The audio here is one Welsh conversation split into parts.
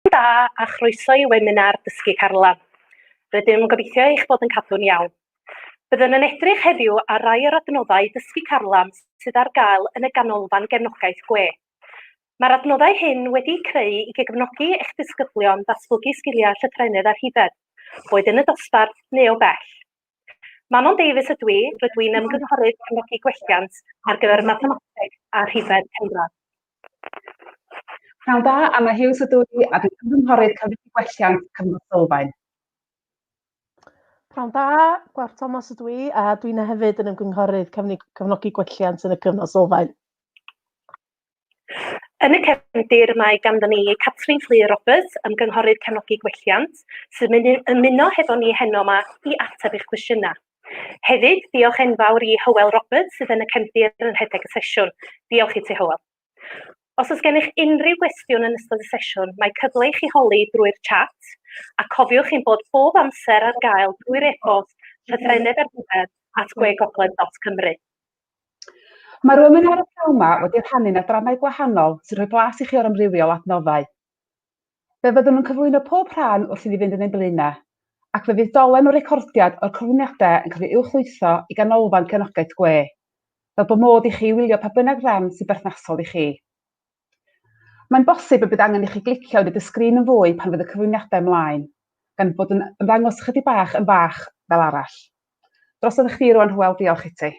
Pnawn da a chroeso i weminar Dysgu Carlam. Rydym yn gobeithio eich bod yn cadw'n iawn. Byddwn yn edrych heddiw ar rai o'r adnoddau Dysgu Carlam sydd ar gael yn y Ganolfan Gefnogaeth Gwe. Mae'r adnoddau hyn wedi'u creu i gefnogi eich disgyblion ddatblygu sgiliau llythrennedd a rhifedd, boed yn y dosbarth neu o bell. Manon Davies ydw i, rydw i'n ymgynghorydd cefnogi gwelliant ar gyfer mathemateg a rhifedd cynradd. Pnawn da, Anna Hughes ydw i a dwi'n ymgynghorydd cefnogi gwelliant Cyngor Sylfaen. Pnawn da, Gwawr Thomas ydw i a dwi'n hefyd yn ymgynghorydd cefnogi gwelliant yn y Cyngor Sylfaen. Yn y cefndir mae ganddon ni Catrin Fflur Roberts, ymgynghorydd cefnogi gwelliant, sy'n mynd i ymuno hefo ni heno 'ma i ateb eich cwestiynau. Hefyd, diolch enfawr i Hywel Roberts sydd yn y cefndir yn rhedeg y sesiwn. Diolch i ti, Hywel. Os oes gennych unrhyw gwestiwn yn ystod y sesiwn, mae cyfle i chi holi drwy'r chat, a cofiwch ein bod bob amser ar gael drwy'r e-bost llythrennedd ar ddiwedd at gwegogledd.cymru. Mae'r Women ar y Pnawn 'ma wedi rhannu'n adrannau gwahanol sy'n rhoi blas i chi o'r amrywiol adnoddau. Fe fyddwn yn cyflwyno pob rhan wrth iddi fynd yn ei blaenau, ac fe fydd dolen o recordiad o'r cyflwyniadau yn cael ei uwchlwytho i Ganolfan Cefnogaeth Gwe, fel bod modd i chi wylio pa bynnag ran sy'n berthnasol i chi. Mae'n bosib y bydd angen i chi glicio i ddod y sgrin yn fwy pan fydd y cyflwyniadau ymlaen, gan bod yn ymddangos ychydig bach yn fach fel arall. Drosodd i chdi rwan Hywel, diolch iti.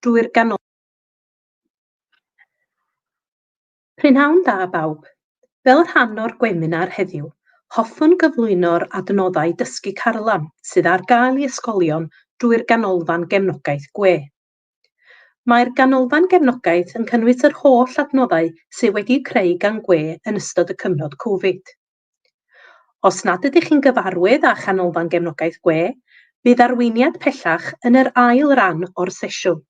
drwy'r ganol. Prynhawn da bawb. Fel rhan o'r gweminar heddiw, hoffwn gyflwyno'r adnoddau Dysgu Carlam sydd ar gael i ysgolion drwy'r Ganolfan Gefnogaeth Gwe. Mae'r Ganolfan Gefnogaeth yn cynnwys yr holl adnoddau sydd wedi'u creu gan gwe yn ystod y cyfnod Covid. Os nad ydych chi'n gyfarwydd â Chanolfan Gefnogaeth Gwe, bydd arweiniad pellach yn yr ail ran o'r sesiwn.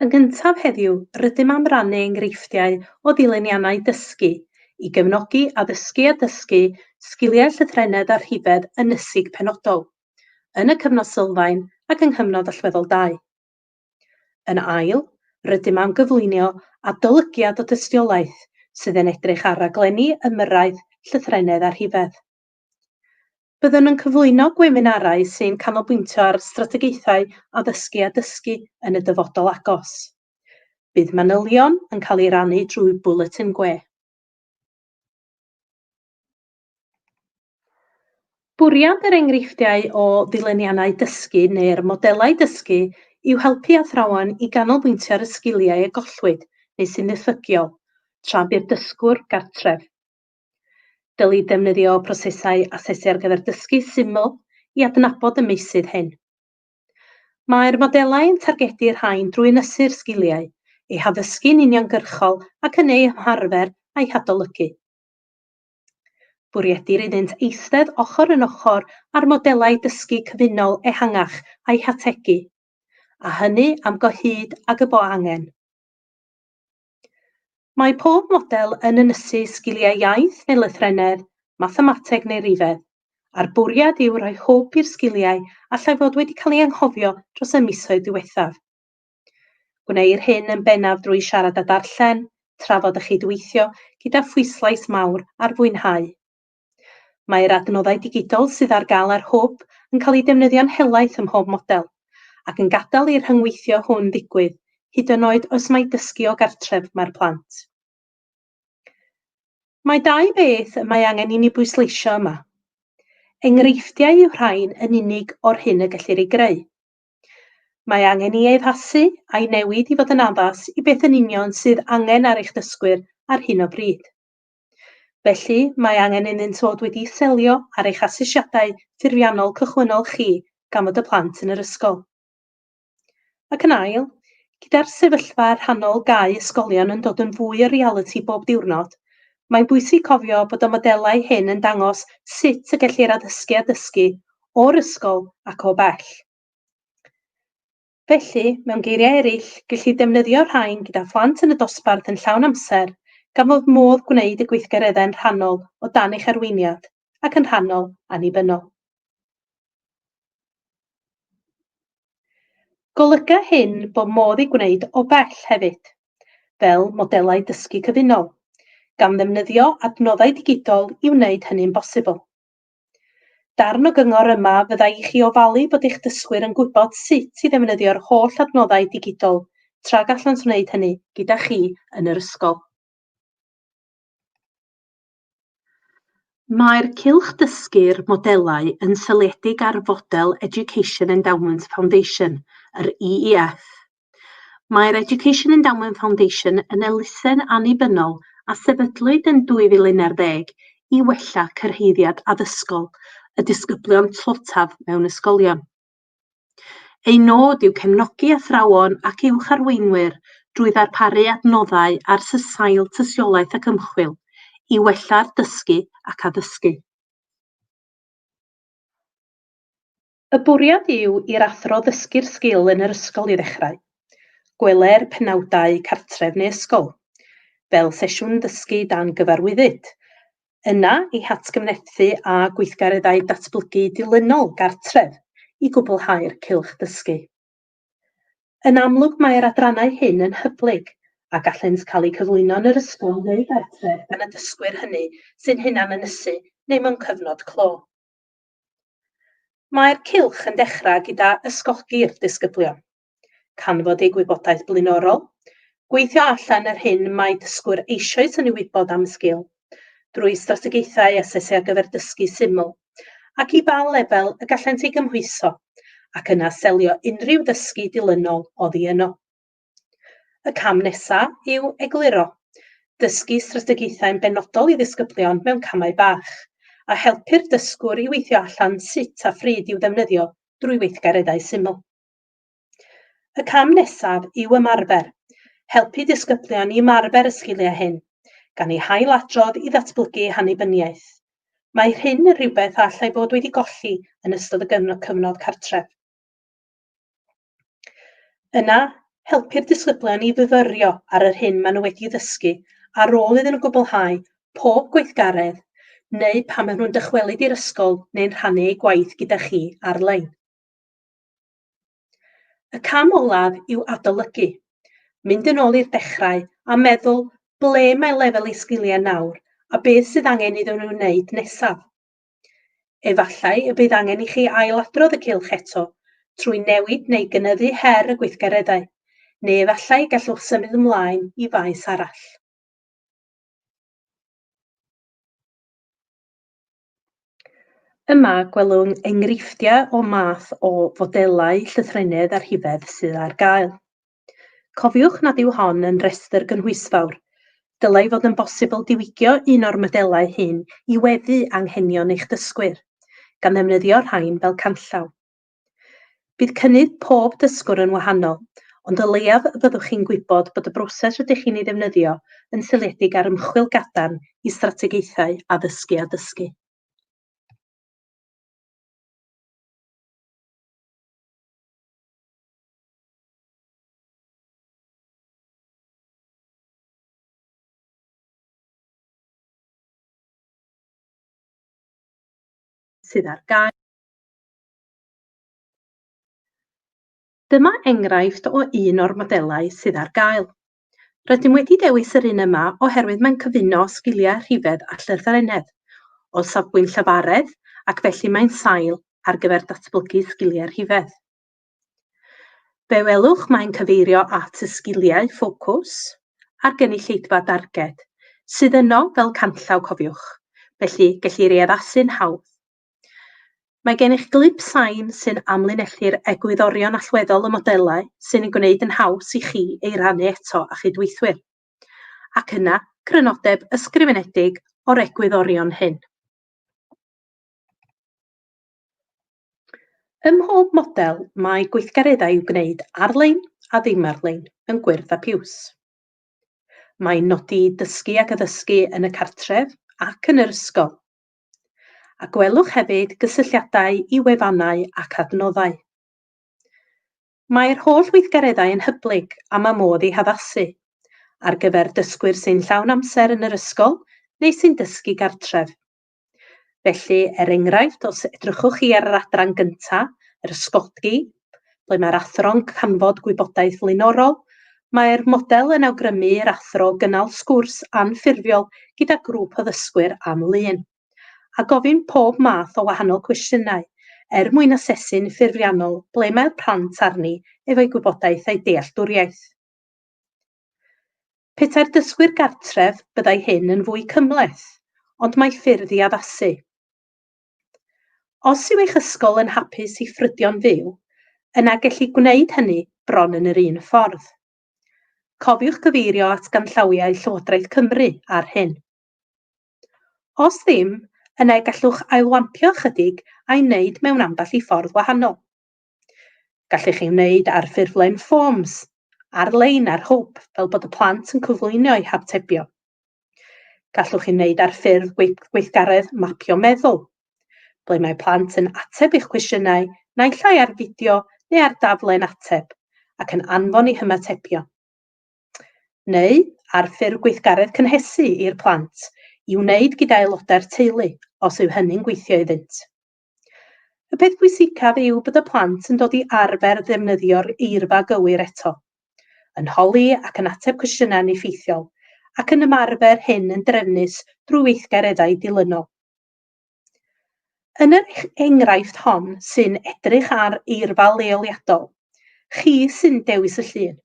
Yn gyntaf heddiw, rydym am rannu enghreifftiau o ddilyniannau dysgu i gefnogi addysgu a dysgu sgiliau llythrennedd a rhifedd ynysig penodol, yn y cyfnod sylfaen ac yng nghyfnod allweddol 2. Yn ail, rydym am gyflwynio adolygiad o dystiolaeth sydd yn edrych ar raglenni ymyrraeth llythrennedd a rhifedd. Byddwn yn cyflwyno gweminarau sy'n canolbwyntio ar strategaethau addysgu a dysgu yn y dyfodol agos. Bydd manylion yn cael eu rhannu drwy Bwletin Gwe. Bwriad yr enghreifftiau o ddilyniannau dysgu neu'r modelau dysgu yw helpu athrawon i ganolbwyntio ar y sgiliau a gollwyd neu sy'n ddiffygiol, tra bu'r dysgwr gartref. Dylid defnyddio prosesau asesu ar gyfer dysgu syml i adnabod y meysydd hyn. Mae'r modelau yn targedu rhain drwy ynysu'r sgiliau, eu haddysgu'n uniongyrchol ac yn eu hymarfer a'u hadolygu. Bwriedir iddynt eistedd ochr yn ochr â'r modelau dysgu cyfunol ehangach a'u hategu, a hynny am go hyd ag y bo angen. Mae pob model yn ynysu sgiliau iaith neu lythrennedd, mathemateg neu rifedd, a'r bwriad yw rhoi hwb i'r sgiliau allai fod wedi cael ei anghofio dros y misoedd diwethaf. Gwneir hyn yn bennaf drwy siarad a darllen, trafod a chydweithio gyda phwyslais mawr ar fwynhau. Mae'r adnoddau digidol sydd ar gael ar Hwb yn cael eu defnyddio'n helaeth ym mhob model, ac yn gadael i'r rhyngweithio hwn ddigwydd hyd yn oed os mai dysgu o gartref mae'r plant. Mae dau beth y mae angen i ni bwysleisio yma. Enghreifftiau yw rhain yn unig o'r hyn y gellir ei greu. Mae angen i aeddasu a'i newid i fod yn addas i beth yn union sydd angen ar eich dysgwyr ar hyn o bryd. Felly, mae angen iddynt fod wedi selio ar eich asesiadau ffurfiannol cychwynnol chi gan fod y plant yn yr ysgol. Ac yn ail, gyda'r sefyllfa rhannol gau ysgolion yn dod yn fwy o realiti bob diwrnod, mae'n bwysig cofio bod y modelau hyn yn dangos sut y gellir addysgu a dysgu o'r ysgol ac o bell. Felly, mewn geiriau eraill, gellid defnyddio'r rhain gyda phlant yn y dosbarth yn llawn amser, gan fod modd gwneud y gweithgareddau'n rhannol o dan eich arweiniad ac yn rhannol annibynnol. Golyga hyn bod modd ei gwneud o bell hefyd, fel modelau dysgu cyfunol, gan ddefnyddio adnoddau digidol i wneud hynny'n bosibl. Darn o gyngor yma fyddai i chi ofalu bod eich dysgwyr yn gwybod sut i ddefnyddio'r holl adnoddau digidol tra gallant wneud hynny gyda chi yn yr ysgol. Mae'r cylch dysgu'r modelau yn seiliedig ar fodel Education Endowment Foundation, yr EEF, Mae'r Education Endowment Foundation yn elusen annibynnol a sefydlwyd yn 2011 i wella cyrhaeddiad addysgol y disgyblion tlotaf mewn ysgolion. Ei nod yw cefnogi athrawon ac uwch arweinwyr drwy ddarparu adnoddau ar sail tystiolaeth ac ymchwil i wella'r dysgu ac addysgu. Y bwriad yw i'r athro ddysgu'r sgil yn yr ysgol i ddechrau. Gweler penawdau cartref neu ysgol, fel sesiwn ddysgu dan gyfarwyddyd. Yna, ei hatgyfnerthu â gweithgareddau datblygu dilynol gartref i gwblhau'r cylch dysgu. Yn amlwg mae'r adrannau hyn yn hyblyg a gallent cael eu cyflwyno yn yr ysgol neu gartref gan y dysgwyr hynny sy'n hunanynysu neu mewn cyfnod clo. Mae'r cylch yn dechrau gyda ysgogi'r disgyblion, canfod eu gwybodaeth blaenorol, gweithio allan yr hyn mae dysgwr eisoes yn ei wybod am y sgil, drwy strategaethau asesu ar gyfer dysgu syml, ac i ba lefel y gallent ei gymhwyso, ac yna selio unrhyw ddysgu dilynol oddi yno. Y cam nesaf yw egluro, dysgu strategaethau'n benodol i ddisgyblion mewn camau bach, a helpu'r dysgwr i weithio allan sut a phryd i'w ddefnyddio drwy weithgareddau syml. Y cam nesaf yw ymarfer, helpu disgyblion i ymarfer y sgiliau hyn, gan eu hail-adrodd i ddatblygu eu hannibyniaeth. Mae hyn yn rhywbeth a allai fod wedi golli yn ystod y cyfnod cartref. Yna, helpu'r disgyblion i fyfyrio ar yr hyn maen nhw wedi ddysgu ar ôl iddyn nhw gwblhau pob gweithgaredd neu pan maen nhw'n dychwelyd i'r ysgol neu'n rhannu eu gwaith gyda chi ar-lein. Y cam olaf yw adolygu, mynd yn ôl i'r dechrau a meddwl ble mae lefel eu sgiliau nawr a beth sydd angen iddyn nhw wneud nesaf. Efallai y bydd angen i chi ailadrodd y cylch eto trwy newid neu gynyddu her y gweithgareddau, neu efallai gallwch symud ymlaen i faes arall. Yma gwelwn enghreifftiau o math o fodelau llythrennedd a rhifedd sydd ar gael. Cofiwch nad yw hon yn restr gynhwysfawr. Dylai fod yn bosibl diwygio un o'r modelau hyn i weddu anghenion eich dysgwyr, gan ddefnyddio'r rhain fel canllaw. Bydd cynnydd pob dysgwr yn wahanol, ond o leiaf y byddwch chi'n gwybod bod y broses rydych chi'n ei ddefnyddio yn seiliedig ar ymchwil gadarn i strategaethau addysgu a dysgu. sydd ar gael. Dyma enghraifft o un o'r modelau sydd ar gael. Rydym wedi dewis yr un yma oherwydd mae'n cyfuno sgiliau rhifedd a llythrennedd, o safbwynt llafaredd ac felly mae'n sail ar gyfer datblygu sgiliau rhifedd. Fe welwch mae'n cyfeirio at y sgiliau ffocws a'r gynulleidfa darged, sydd yno fel canllaw cofiwch, felly gellir ei addasu'n hawdd. Mae gennych glip sain sy'n amlinellu'r egwyddorion allweddol y modelau sy'n ei gwneud yn haws i chi ei rannu eto â chydweithwyr. Ac yna, crynodeb ysgrifenedig o'r egwyddorion hyn. Ym mhob model, mae gweithgareddau i'w gwneud ar-lein a ddim ar-lein, yn gwyrdd a piws. Mae'n nodi dysgu ac addysgu yn y cartref ac yn yr ysgol. A gwelwch hefyd gysylltiadau i wefannau ac adnoddau. Mae'r holl weithgareddau yn hyblyg a mae modd eu haddasu, ar gyfer dysgwyr sy'n llawn amser yn yr ysgol neu sy'n dysgu gartref. Felly, er enghraifft, os edrychwch chi ar yr adran gyntaf, yr ysgogi, ble mae'r athro'n canfod gwybodaeth flaenorol, mae'r model yn awgrymu i'r athro gynnal sgwrs anffurfiol gyda grŵp o ddysgwyr am lun, a gofyn pob math o wahanol gwestiynau, er mwyn asesu'n ffurfiannol ble mae'r plant arni efo'u gwybodaeth a'u dealltwriaeth. Petai'r dysgwyr gartref, byddai hyn yn fwy cymhleth, ond mae ffyrdd i addasu. Os yw eich ysgol yn hapus i ffrydio'n fyw, yna gelli gwneud hynny bron yn yr un ffordd. Cofiwch gyfeirio at ganllawiau Llywodraeth Cymru ar hyn. Os ddim, yna y gallwch ailwampio ychydig a'i wneud mewn ambell i ffordd wahanol. Gallech ei wneud ar ffurflen Forms, ar-lein ar hwb fel bod y plant yn cyflwyno eu hatebio. Gallwch ei wneud ar ffurf gweithgaredd mapio meddwl, ble mae plant yn ateb eich cwestiynau naill ai ar fideo neu ar daflen ateb ac yn anfon eu hymatebion. Neu ar ffurf gweithgaredd cynhesu i'r plant i wneud gyda aelodau'r teulu os yw hynny'n gweithio iddynt. Y peth pwysicaf yw bod y plant yn dod i arfer ddefnyddio'r eirfa gywir eto, yn holi ac yn ateb cwestiynau'n effeithiol, ac yn ymarfer hyn yn drefnus drwy weithgareddau dilynol. Yn yr enghraifft hon sy'n edrych ar eirfa leoliadol, chi sy'n dewis y llun,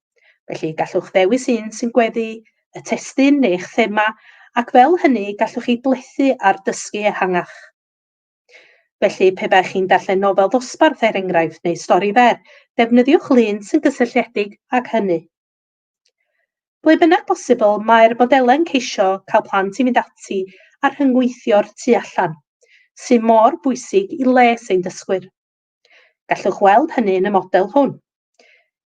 felly gallwch ddewis un sy'n gweddu y testun neu'ch thema ac fel hynny gallwch chi blethu ar dysgu ehangach. Felly, pe baech chi'n darllen nofel ddosbarth, er enghraifft, neu stori fer, defnyddiwch lun sy'n gysylltiedig ag hynny. Ble bynnag bosibl, mae'r modelau'n ceisio cael plant i fynd ati a rhyngweithio'r tu allan, sy'n mor bwysig i les ein dysgwyr. Gallwch weld hynny yn y model hwn.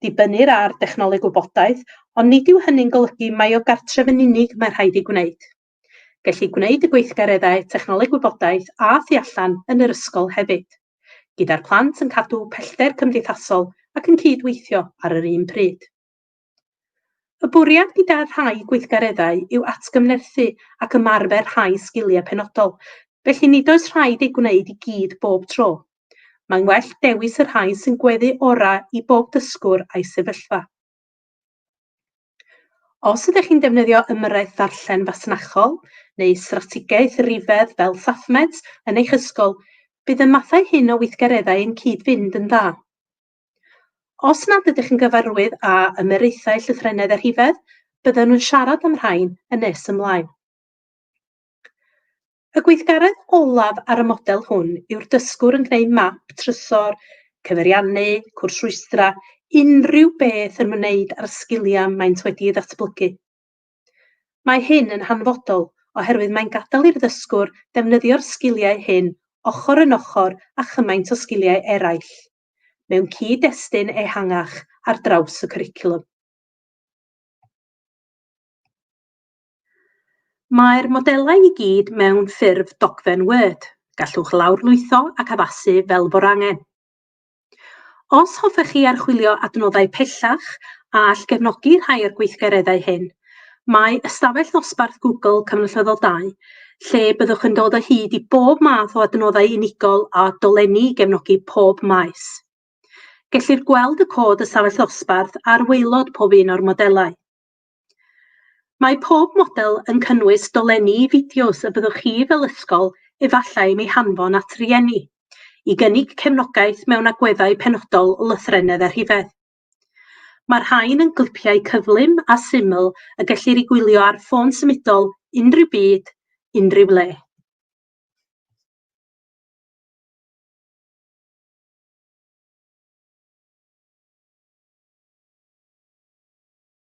Dibynnir ar dechnoleg wybodaeth, ond nid yw hynny'n golygu mai o gartref yn unig mae rhaid ei gwneud. Gellir gwneud y gweithgareddau Technoleg Gwybodaeth a Thu Allan yn yr ysgol hefyd, gyda'r plant yn cadw pellter cymdeithasol ac yn cyd-weithio ar yr un pryd. Y bwriad gyda rhai gweithgareddau yw atgyfnerthu ac ymarfer rhai sgiliau penodol, felly nid oes rhaid eu gwneud i gyd bob tro. Mae'n well dewis y rhai sy'n gweddu orau i bob dysgwr a'i sefyllfa. Os ydych chi'n defnyddio ymyrraeth ddarllen fasnachol neu stratigaeth rifedd fel SafeMed yn eich ysgol, bydd y mathau hyn o weithgareddau yn cyd-fynd yn dda. Os nad ydych yn gyfarwydd â ymyraethau llythrennedd a rhifedd, byddwn yn siarad am rhain yn nes ymlaen. Y gweithgaredd olaf ar y model hwn yw'r dysgwr yn gwneud map trysor, cyfeiriannu, cwrs rhwystra, unrhyw beth yn ymwneud â'r sgiliau maent wedi'i ddatblygu. Mae hyn yn hanfodol oherwydd mae'n gadael i'r ddysgwr ddefnyddio'r sgiliau hyn ochr yn ochr â chymaint o sgiliau eraill, mewn cyd-destun ehangach ar draws y cwricwlwm. Mae'r modelau i gyd mewn ffurf dogfen Word, gallwch lawrlwytho ac addasu fel bo'r angen. Os hoffech chi archwilio adnoddau pellach a all gefnogi rhai o'r gweithgareddau hyn, mae ystafell ddosbarth Google Cyfnyllyddol 2, lle byddwch yn dod o hyd i bob math o adnoddau unigol a dolenni i gefnogi pob maes. Gellir gweld y cod ystafell ddosbarth ar waelod pob un o'r modelau. Mae pob model yn cynnwys dolenni i fideos y byddwch chi fel ysgol efallai yn eu hanfon at rieni, i gynnig cefnogaeth mewn agweddau penodol o lythrennedd a rhifedd. Mae'r rhain yn glipiau cyflym a syml y gellir eu gwylio ar ffôn symudol unrhyw byd, unrhyw le.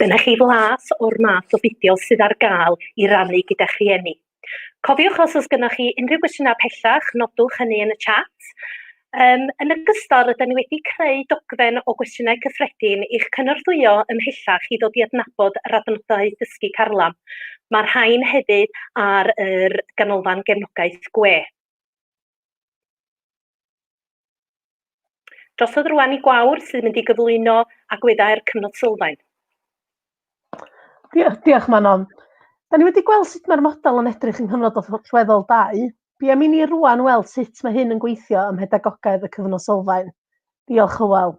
Dyna chi flas o'r math o fideos sydd ar gael i rannu gyda rhieni. Cofiwch os oes gennych chi unrhyw gwestiynau pellach, nodwch hynny yn y chat. Um, yn ogystal, rydyn ni wedi creu dogfen o gwestiynau cyffredin i'ch cynorthwyo ymhellach i ddod i adnabod yr adnoddau dysgu carlam. Mae'r rhain hefyd ar yr ganolfan gefnogaeth gwe. Drosodd rwan i Gwawr sydd mynd i gyflwyno agweddau'r Cyfnod Sylfaen. Diolch, diolch Manon. Da ni wedi gweld sut mae'r model yn edrych yng nghyfnod allweddol 2. Bi am i ni rwan weld sut mae hyn yn gweithio ym mhedagogaidd y Cyfnod Sylfaen. Diolch Hywel.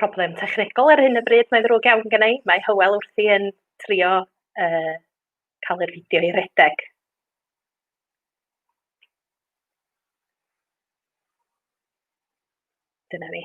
problem technegol ar hyn o bryd, mae'n ddrwg iawn gen i. Mae Hywel wrthi yn trio uh, cael yr fideo i redeg. Dyna ni.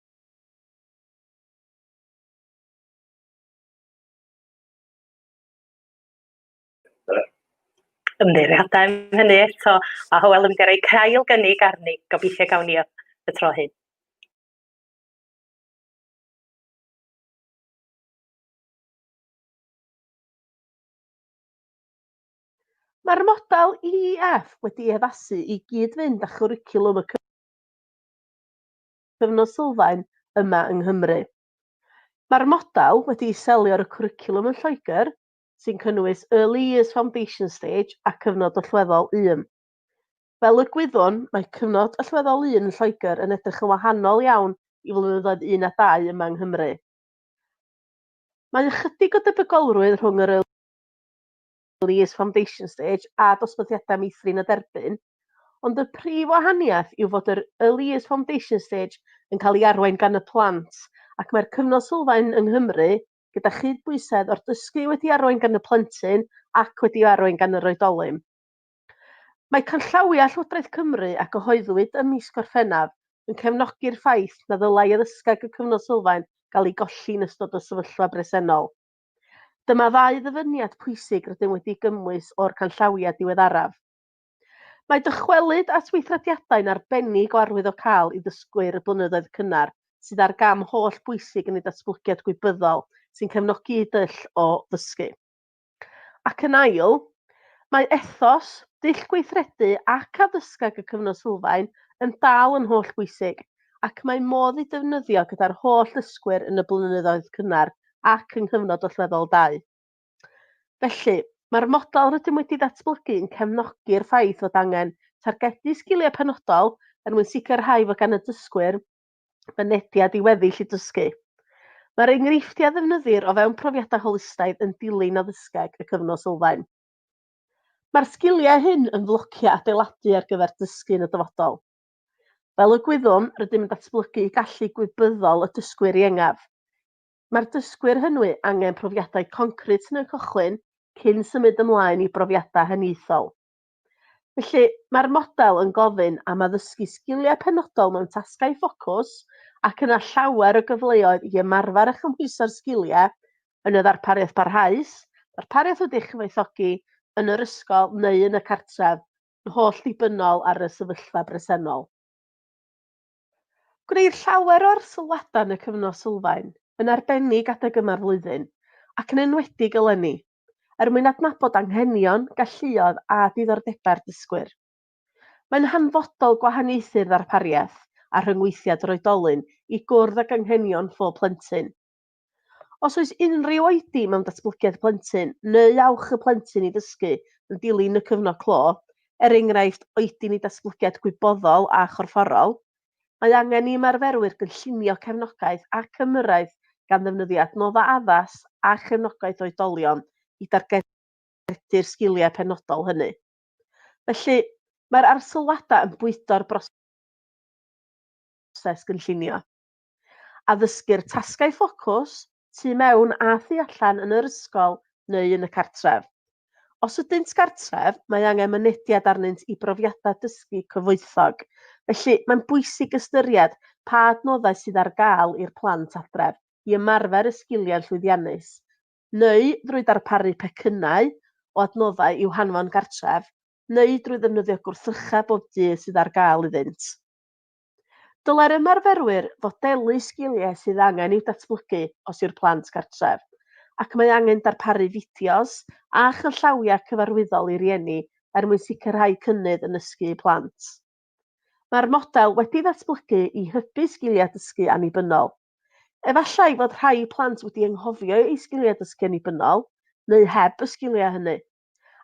ymddeiriadau am hynny eto, a Hywel yn gyrraedd cael gynnig arni, gobeithio gawn ni y tro hyn. Mae'r model EEF wedi addasu i gyd-fynd â chwricwlwm y cyfnod sylfaen yma yng Nghymru. Mae'r model wedi'i selio ar y cwricwlwm yn Lloegr, sy'n cynnwys Early Years Foundation Stage a Cyfnod Allweddol Un. Fel y gwyddwn, mae Cyfnod Allweddol Un yn Lloegr yn edrych yn wahanol iawn i flynyddoedd un a dau yma yng Nghymru. Mae ychydig o debygolrwydd rhwng yr Earliest Foundation Stage a dosbarthiadau meithrin a derbyn, ond y prif wahaniaeth yw fod yr Earliest Foundation Stage yn cael ei arwain gan y plant ac mae'r Cyfnod Sylfaen yng Nghymru, gyda chyd-bwysedd o'r dysgu wedi arwain gan y plentyn ac wedi arwain gan yr oedolyn. Mae canllawiau Llywodraeth Cymru a gyhoeddwyd ym mis Gorffennaf yn cefnogi'r ffaith na ddylai addysgeg y Cyfnod Sylfaen gael ei golli yn ystod y sefyllfa bresennol. Dyma ddau ddyfyniad pwysig rydym wedi gymwys o'r canllawiau diweddaraf. Mae dychwelyd at weithrediadau'n arbennig o arwyddocaol i ddysgwyr y blynyddoedd cynnar sydd ar gam holl bwysig yn eu datblygiad gwybyddol sy'n cefnogi eu dull o ddysgu. Ac yn ail, mae ethos, dull gweithredu ac addysgag y Cyfnod Sylfaen yn dal yn holl bwysig, ac mae modd ei defnyddio gyda'r holl ddysgwyr yn y blynyddoedd cynnar ac yng nghyfnod oll lefel 2. Felly, mae'r model rydym wedi datblygu yn cefnogi'r ffaith fod angen targedu sgiliau penodol er mwyn sicrhau fod gan y dysgwyr fynediad i weddill y dysgu. Mae'r enghreifftiau a ddefnyddir o fewn profiadau holistaidd yn dilyn addysgeg y cyfnod sylfaen. Mae'r sgiliau hyn yn flociau adeiladu ar gyfer dysgu yn y dyfodol. Fel y gwyddom, rydym yn datblygu gallu gwybyddol y dysgwyr ieuengaf. Mae'r dysgwyr hynwy angen profiadau concrit yn y cychwyn cyn symud ymlaen i brofiadau haniaethol. Felly, mae'r model yn gofyn am addysgu sgiliau penodol mewn tasgau ffocws ac yna llawer o gyfleoedd i ymarfer a chymhwyso'r sgiliau yn y ddarpariaeth barhaus, darpariaeth wedi'i chyfoethogi, yn yr ysgol neu yn y cartref, yn holl ddibynnol ar y sefyllfa bresennol. Gwneir llawer o'r sylwadau yn y Cyfnod Sylfaen, yn arbennig adeg yma'r flwyddyn, ac yn enwedig eleni, er mwyn adnabod anghenion, galluoedd a diddordebau'r dysgwyr. Mae'n hanfodol gwahaniaethu'r ddarpariaeth a rhyngweithiad yr oedolyn i gwrdd ag anghenion phob plentyn. Os oes unrhyw oedi mewn datblygiad y plentyn neu awch y plentyn i ddysgu yn dilyn y cyfnod clo, er enghraifft oedi neu datblygiad gwyboddol a chorfforol, mae angen i ymarferwyr gynllunio cefnogaeth ac ymyrraeth gan ddefnyddio adnoddau addas a chefnogaeth oedolion i dargedu'r sgiliau penodol hynny. Felly, mae'r arsylwadau yn bwydo'r broses gynllunio. Addysgu'r tasgau ffocws, tu mewn a thu allan yn yr ysgol neu yn y cartref. Os ydynt gartref, mae angen mynediad arnynt i brofiadau dysgu cyfoethog, felly mae'n bwysig ystyried pa adnoddau sydd ar gael i'r plant adref i ymarfer y sgiliau llwyddiannus, neu drwy darparu pecynnau o adnoddau i'w hanfon gartref, neu drwy ddefnyddio gwrthrychau bob dydd sydd ar gael iddynt. Dylai'r ymarferwyr fodelu sgiliau sydd angen i'w datblygu os yw'r plant gartref, ac mae angen darparu fideos a chanllawiau cyfarwyddol i rieni er mwyn sicrhau cynnydd yn nysgu eu plant. Mae'r model wedi ddatblygu i hybu sgiliau dysgu annibynnol. Efallai fod rhai plant wedi anghofio eu sgiliau dysgu annibynnol, neu heb y sgiliau hynny,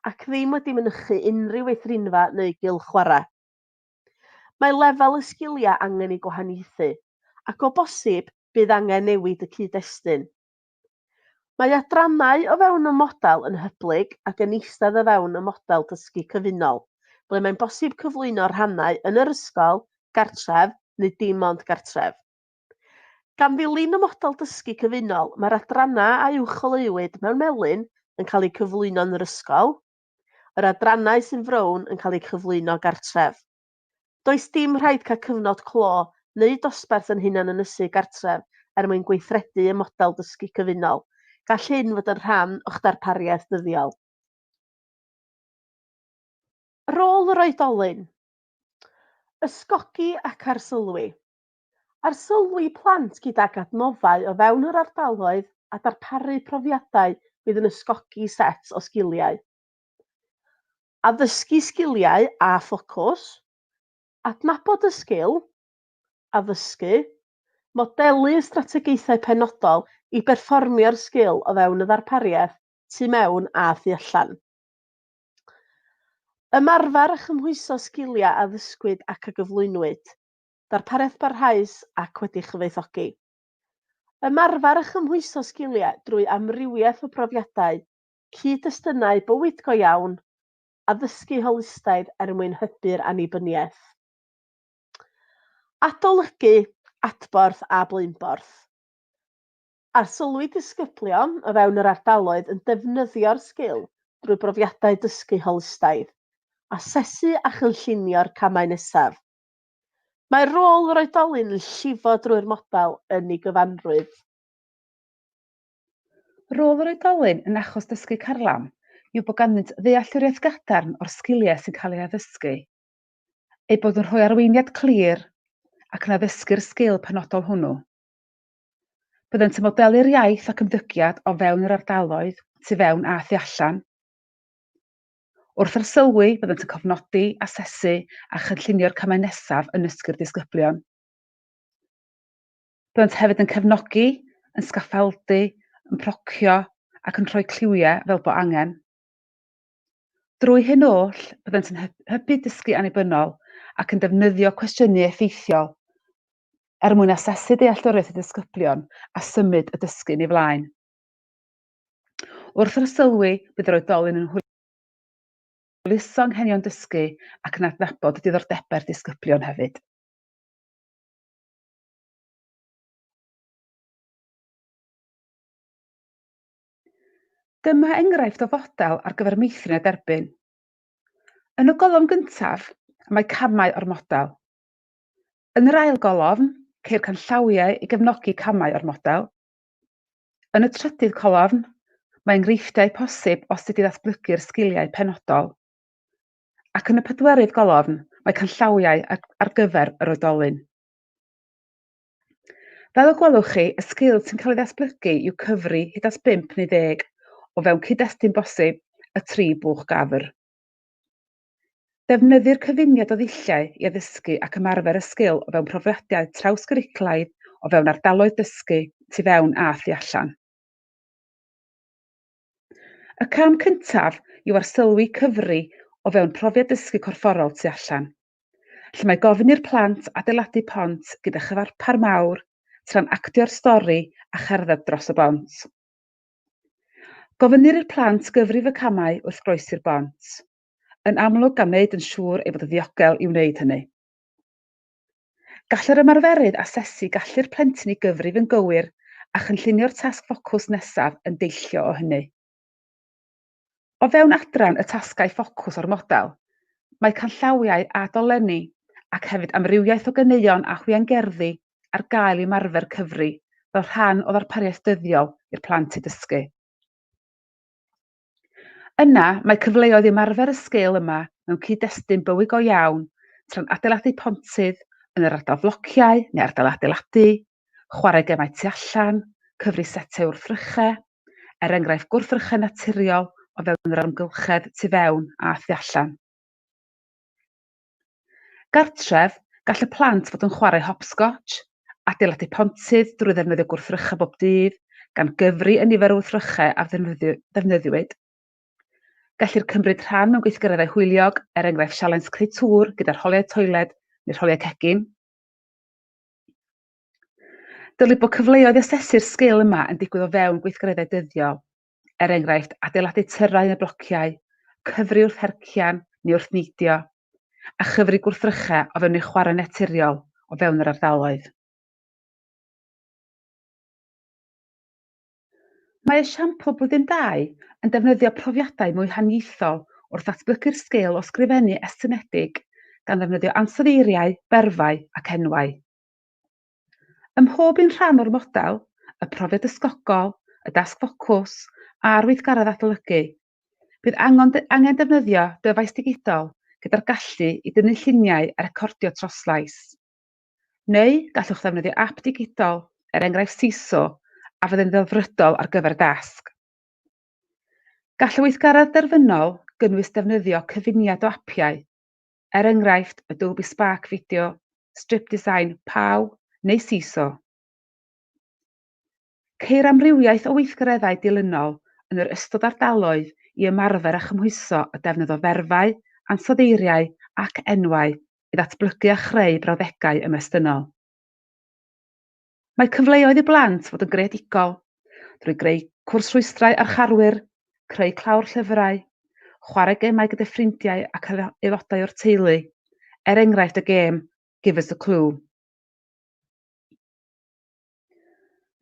ac ddim wedi mynychu unrhyw weithrinfa neu gylch chwarae. Mae lefel y sgiliau angen ei gwahaniaethu, ac o bosib bydd angen newid y cyd-destun. Mae adrannau o fewn y model yn hyblyg ac yn eistedd o fewn y model dysgu cyfunol, ble mae'n bosib cyflwyno rhannau yn yr ysgol, gartref neu dim ond gartref. Gan ddilyn y model dysgu cyfunol, mae'r adrannau a uwcholeuwyd mewn melin yn cael eu cyflwyno yn yr ysgol, Yr adrannau sy'n frown yn cael eu cyflwyno gartref. Does dim rhaid cael cyfnod clo neu dosbarth yn hunan-ynysu gartref er mwyn gweithredu y model dysgu cyfunol. Gall hyn fod yn rhan o'ch darpariaeth dyddiol. Rôl yr oedolyn. Ysgogi ac arsylwi. Arsylwi plant gydag adnoddau o fewn yr ardaloedd a darparu profiadau fydd yn ysgogi set o sgiliau. Addysgu sgiliau â ffocws, adnabod y sgil, addysgu, modelu y strategaethau penodol i berfformio'r sgil o fewn y ddarpariaeth tu mewn a thu allan. Ymarfer a chymhwyso sgiliau a ddysgwyd ac a gyflwynwyd. darpariaeth barhaus ac wedi chyfoethogi. Ymarfer a chymhwyso sgiliau drwy amrywiaeth o brofiadau, cyd-destunau bywyd go iawn, addysgu holistaidd er mwyn hybu'r annibyniaeth. Adolygu, adborth a blaenborth. Arsylwi disgyblion o fewn yr ardaloedd yn defnyddio'r sgil drwy brofiadau dysgu holistaidd. Asesu a chynllunio'r camau nesaf. Mae rôl yr oedolyn yn llifo drwy'r model yn ei gyfanrwydd. Rôl yr oedolyn yn achos dysgu carlam yw bod ganddynt ddealltwriaeth gadarn o'r sgiliau sy'n cael eu haddysgu, eu bod yn rhoi arweiniad clir ac yn addysgu'r sgil penodol hwnnw. Byddent yn modelu'r iaith ac ymddygiad o fewn yr ardaloedd tu fewn a thu allan. Wrth arsylwi, byddant yn cofnodi, asesu a chynllunio'r camau nesaf yn nysgu'r disgyblion. Byddant hefyd yn cefnogi, yn sgaffaldu, yn procio ac yn rhoi cliwiau fel bo angen. Drwy hyn oll, byddant yn hybu dysgu annibynnol ac yn defnyddio cwestiynu effeithiol er mwyn asesu dealltwriaeth y disgyblion a symud y dysgu yn ei flaen. Wrth arsylwi, bydd yr oedolyn yn hwyluso anghenion dysgu ac yn adnabod diddordebau'r disgyblion hefyd. Dyma enghraifft o fodel ar gyfer meithrin a derbyn. Yn y golofn gyntaf, mae camau o'r model. Yn yr ail golofn, ceir canllawiau i gefnogi camau o'r model. Yn y trydydd colofn, mae enghreifftiau posib o sut i ddatblygu'r sgiliau penodol. Ac yn y pedwerydd golofn, mae canllawiau ar gyfer yr oedolyn. Fel y gwelwch chi, y sgil sy'n cael ei ddatblygu yw cyfri hyd at 5 neu 10 o fewn cyd-destun bosib y tri bwch gafr. Defnyddir cyfuniad o ddulliau i addysgu ac ymarfer y sgil o fewn profiadau trawsgwricwlaidd o fewn ardaloedd dysgu tu fewn a thu allan. Y cam cyntaf yw arsylwi cyfri o fewn profiad dysgu corfforol tu allan, lle mae gofyn i'r plant adeiladu pont gyda chyfarpar mawr tra'n actio'r stori a cherdded dros y bont. Gofynnir i'r plant gyfrif y camau wrth groesi'r bont, yn amlwg gan wneud yn siŵr ei fod yn ddiogel i wneud hynny. Gall yr ymarferydd asesu gallu'r plentyn i gyfrif yn gywir a chynllunio'r tasg ffocws nesaf yn deillio o hynny. O fewn adran y tasgau ffocws o'r model, mae canllawiau a dolenni ac hefyd amrywiaeth o ganeuon a hwiangerddi ar gael i ymarfer cyfri fel rhan o ddarpariaeth dyddiol i'r plant i dysgu. Yna, mae cyfleoedd i ymarfer y sgil yma mewn cyd-destun bywyd go iawn, tra'n adeiladu pontydd yn yr ardal flociau neu ardal adeiladu, chwarae gemau tu allan, cyfri setiau wrthrychau, er enghraifft gwrthrychau naturiol o fewn yr amgylchedd tu fewn a thu allan. Gartref, gall y plant fod yn chwarae hopscotch, adeiladu pontydd drwy ddefnyddio gwrthrychau bob dydd, gan gyfri y nifer o wrthrychau a ddefnyddiwyd. Gellir cymryd rhan mewn gweithgareddau hwyliog, er enghraifft sialens creu tŵr gyda rholiau toiled neu rholiau cegin. Dylid bod cyfleoedd i asesu'r sgil yma yn digwydd o fewn gweithgareddau dyddiol, er enghraifft adeiladu tyrau neu blociau, cyfri wrth hercian neu wrth neidio, a chyfri gwrthrychau o fewn eich chwarae naturiol o fewn yr ardaloedd. Mae Esiampl Blwyddyn Dau yn defnyddio profiadau mwy haniaethol wrth ddatblygu'r sgil o sgrifennu estynedig gan ddefnyddio ansoddeiriau, berfau ac enwau. Ym mhob un rhan o'r model, y profiad ysgogol, y dasg ffocws, a'r weithgaredd adolygu, bydd angen defnyddio dyfais digidol gyda'r gallu i dynnu lluniau a recordio troslais. Neu gallwch ddefnyddio ap digidol, er enghraifft Seesaw, a fydd yn ddelfrydol ar gyfer y dasg. Gall y weithgaredd derfynol gynnwys defnyddio cyfuniad o apiau, er enghraifft Adobe Spark Video, Strip Design, PAW neu Seesaw. Ceir amrywiaeth o weithgareddau dilynol yn yr ystod ardaloedd i ymarfer a chymhwyso a defnydd o ferfau, ansoddeiriau ac enwau i ddatblygu a chreu brawddegau ymestynnol. Mae cyfleoedd i blant fod yn greadigol drwy greu cwrs rhwystrau ar charwyr, creu clawr llyfrau, chwarae gemau gyda ffrindiau ac aelodau o'r teulu, er enghraifft y gêm Give Us a Clue.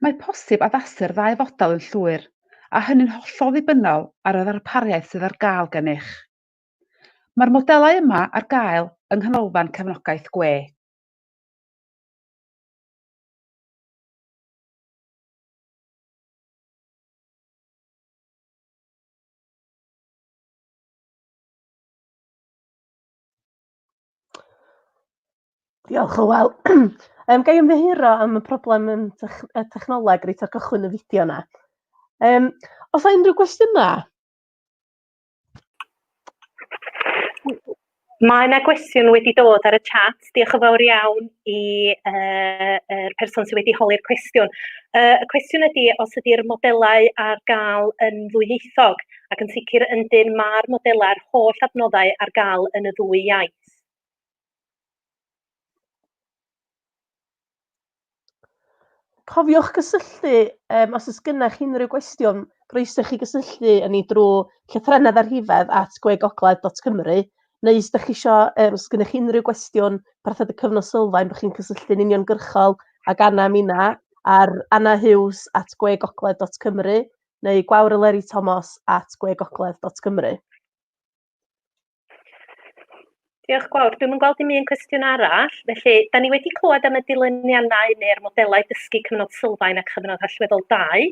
Mae posib addasu'r ddau fodel yn llwyr, a hynny'n hollol ddibynnol ar y ddarpariaeth sydd ar gael gennych. Mae'r modelau yma ar gael yng Nghanolfan Cefnogaeth Gwe. Diolch, wel, um, ga i ymddiheuro am y problem yn tech, y technoleg reit ar gychwyn y fideo yna. Um, os oes unrhyw gwestiynau? Mae 'na gwestiwn wedi dod ar y chat. Diolch yn fawr iawn i yy yr person sydd wedi holi'r cwestiwn. Yy y cwestiwn ydy os ydy'r modelau ar gael yn ddwyieithog, ac yn sicr yndyn ma'r modelau'r holl adnoddau ar gael yn y ddwy iaith. Cofiwch gysylltu um, os oes gennych unrhyw gwestiwn, croeso chi gysylltu yn ni drwy llythrennedd ar rhifedd at gwegogledd.cymru neu os ydych chi isio, um, os gennych chi unrhyw gwestiwn parthed y cyfnod sylfaen, byddwch chi'n cysylltu'n uniongyrchol ag Anna Mina ar Anna Hughes at gwegogledd.cymru neu Gwawr Eleri Thomas at gwegogledd.cymru. Diolch Gwawr. Dwi'm yn gweld dim un cwestiwn arall, felly da ni wedi clywed am y dilyniannau neu'r modelau dysgu cyfnod sylfaen ac chyfnod allweddol 2.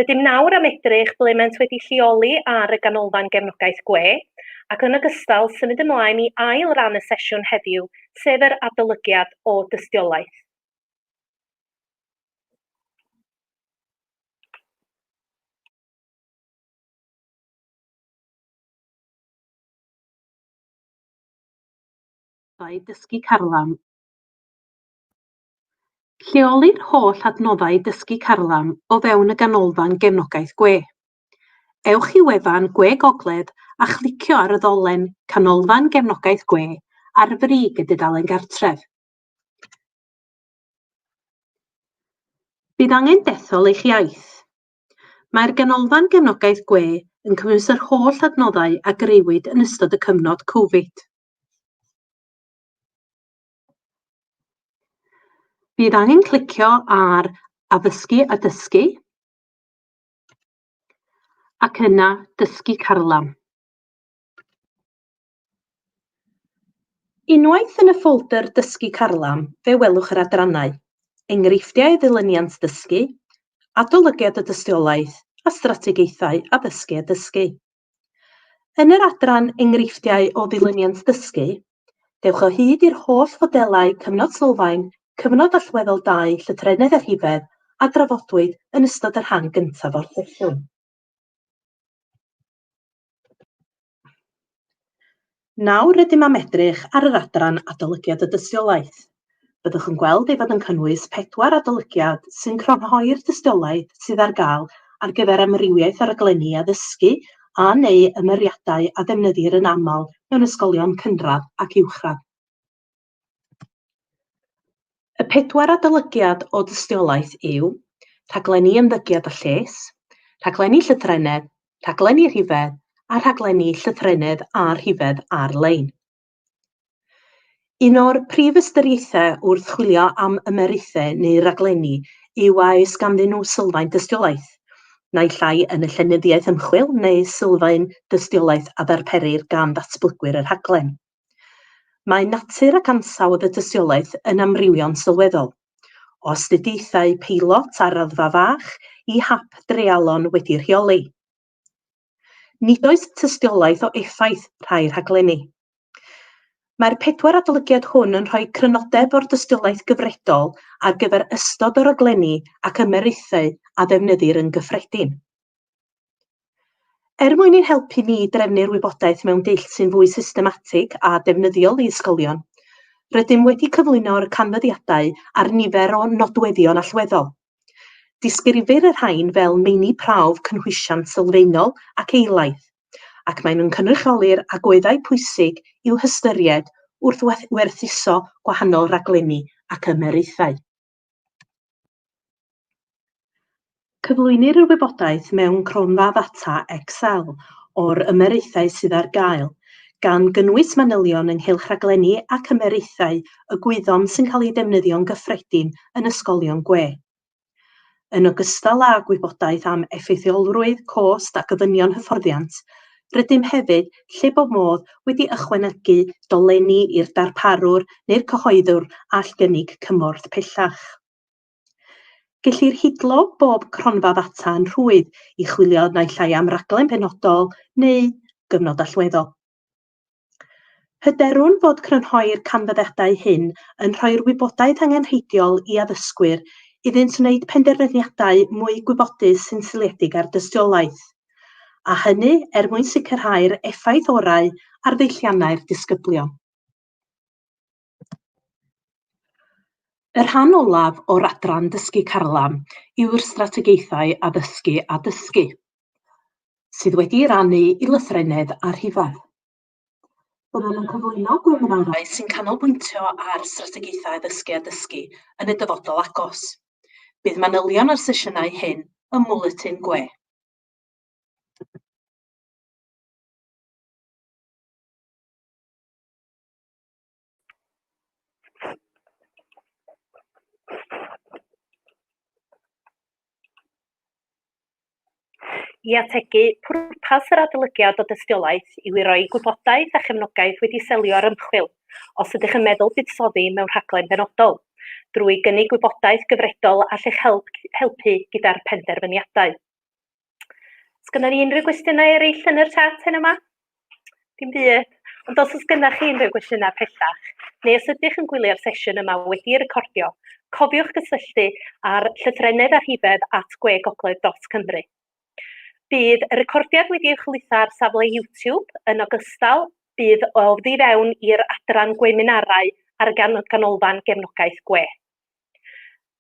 Rydym nawr am edrych ble maent wedi lleoli ar y ganolfan gefnogaeth gwe, ac yn ogystal symud ymlaen i ail ran y sesiwn heddiw, sef yr adolygiad o dystiolaeth. adnoddau dysgu carlam Lleolir holl adnoddau dysgu carlam o fewn y Ganolfan Gefnogaeth Gwe. Ewch i wefan Gwe Gogledd a chlicio ar y ddolen Canolfan Gefnogaeth Gwe ar frig y dudalen gartref. Bydd angen dethol eich iaith. Mae'r Ganolfan Gefnogaeth Gwe yn cynnwys yr holl adnoddau a grëwyd yn ystod y cyfnod Covid. Bydd angen clicio ar Addysgu a Dysgu ac yna Dysgu Carlam. Unwaith yn y ffoldr Dysgu Carlam, fe welwch yr adrannau, Enghreifftiau Ddilyniant Dysgu, Adolygiad y Dystiolaeth a Strategaethau Addysgu a Dysgu. Yn yr adran Enghreifftiau o Ddilyniant Dysgu, dewch o hyd i'r holl fodelau Cyfnod Sylfaen, Cyfnod Allweddol 2, Llythrennedd a Rhifedd a drafodwyd yn ystod y rhan gyntaf o'r sesiwn. Nawr rydym am edrych ar yr adran Adolygiad a Dystiolaeth. Byddwch yn gweld ei fod yn cynnwys pedwar adolygiad sy'n crynhoi'r dystiolaeth sydd ar gael ar gyfer amrywiaeth o raglenni addysgu a neu ymyriadau a ddefnyddir yn aml mewn ysgolion cynradd ac uwchradd. Y pedwar adolygiad o dystiolaeth yw, rhaglenni ymddygiad a lles, rhaglenni llythrennedd, rhaglenni rhifedd a rhaglenni llythrennedd a rhifedd ar-lein. Un o'r prif ystyriaethau wrth chwilio am ymyraethau neu raglenni yw a oes ganddyn nhw sylfaen dystiolaeth, naill ai yn y llenyddiaeth ymchwil neu sylfaen dystiolaeth a ddarperir gan ddatblygwyr y rhaglen. Mae natur ac ansawdd y dystiolaeth yn amrywio'n sylweddol, o astudiaethau peilot ar raddfa fach i hap dreialon wedi rheoli. Nid oes tystiolaeth o effaith rhai rhaglenni. Mae'r pedwar adolygiad hwn yn rhoi crynodeb o'r dystiolaeth gyfredol ar gyfer ystod o raglenni ac ymyraethau a ddefnyddir yn gyffredin. Er mwyn i'n helpu ni drefnu'r wybodaeth mewn dull sy'n fwy systematig a defnyddiol i ysgolion, rydym wedi cyflwyno'r canfyddiadau ar nifer o nodweddion allweddol. Disgrifir y rhain fel meini prawf cynhwysiant sylfaenol ac eilaidd, ac maen nhw'n cynrychioli'r agweddau pwysig i'w hystyried wrth werthuso gwahanol raglenni ac ymyraethau. Cyflwynir y wybodaeth mewn cronfa ddata Excel o'r ymyraethau sydd ar gael, gan gynnwys manylion ynghylch rhaglenni ac ymyraethau y gwyddom sy'n cael eu defnyddio'n gyffredin yn ysgolion gwe. Yn ogystal â gwybodaeth am effeithiolrwydd, cost a gofynion hyfforddiant, Rydym hefyd, lle bo modd, wedi ychwanegu dolenni i'r darparwr neu'r cyhoeddwr all gynnig cymorth pellach. Gellir hidlo bob cronfa ddata yn rhwydd i chwilio naill ai am raglen benodol neu gyfnod allweddol. Hyderwn fod crynhoi'r canfyddiadau hyn yn rhoi'r wybodaeth angenrheidiol i addysgwyr iddynt wneud penderfyniadau mwy gwybodus sy'n seiliedig ar dystiolaeth, a hynny er mwyn sicrhau'r effaith orau ar ddeilliannau'r disgyblion. Y rhan olaf o'r adran Dysgu Carlam yw'r Strategaethau Addysgu a Dysgu, sydd wedi'i rannu i lythrennedd a rhifau. Byddwn yn cyflwyno gweminarau sy'n canolbwyntio ar Strategaethau Addysgu a Dysgu yn y dyfodol agos. Bydd manylion ar sesiynau hyn ym Mwletin Gwe. I ategu pwrpas yr adolygiad o dystiolaeth yw i roi gwybodaeth a chefnogaeth wedi selio ar ymchwil, os ydych yn meddwl buddsoddi mewn rhaglen benodol, drwy gynnig gwybodaeth gyfredol all eich helpu gyda'r penderfyniadau. Os gyda ni unrhyw gwestiynau eraill yn yr chat hyn yma? Dim byd. Ond os oes gyda chi unrhyw gwestiynau pellach, neu os ydych yn gwylio'r sesiwn yma wedi'i recordio, cofiwch gysylltu ar llythrennedd a rhifedd at gwegogledd.cymru. Bydd y recordiad wedi ei chylitha ar safle YouTube. Yn ogystal, bydd o ddi fewn i'r adran gweminarau ar y ganolfan gefnogaeth gwe.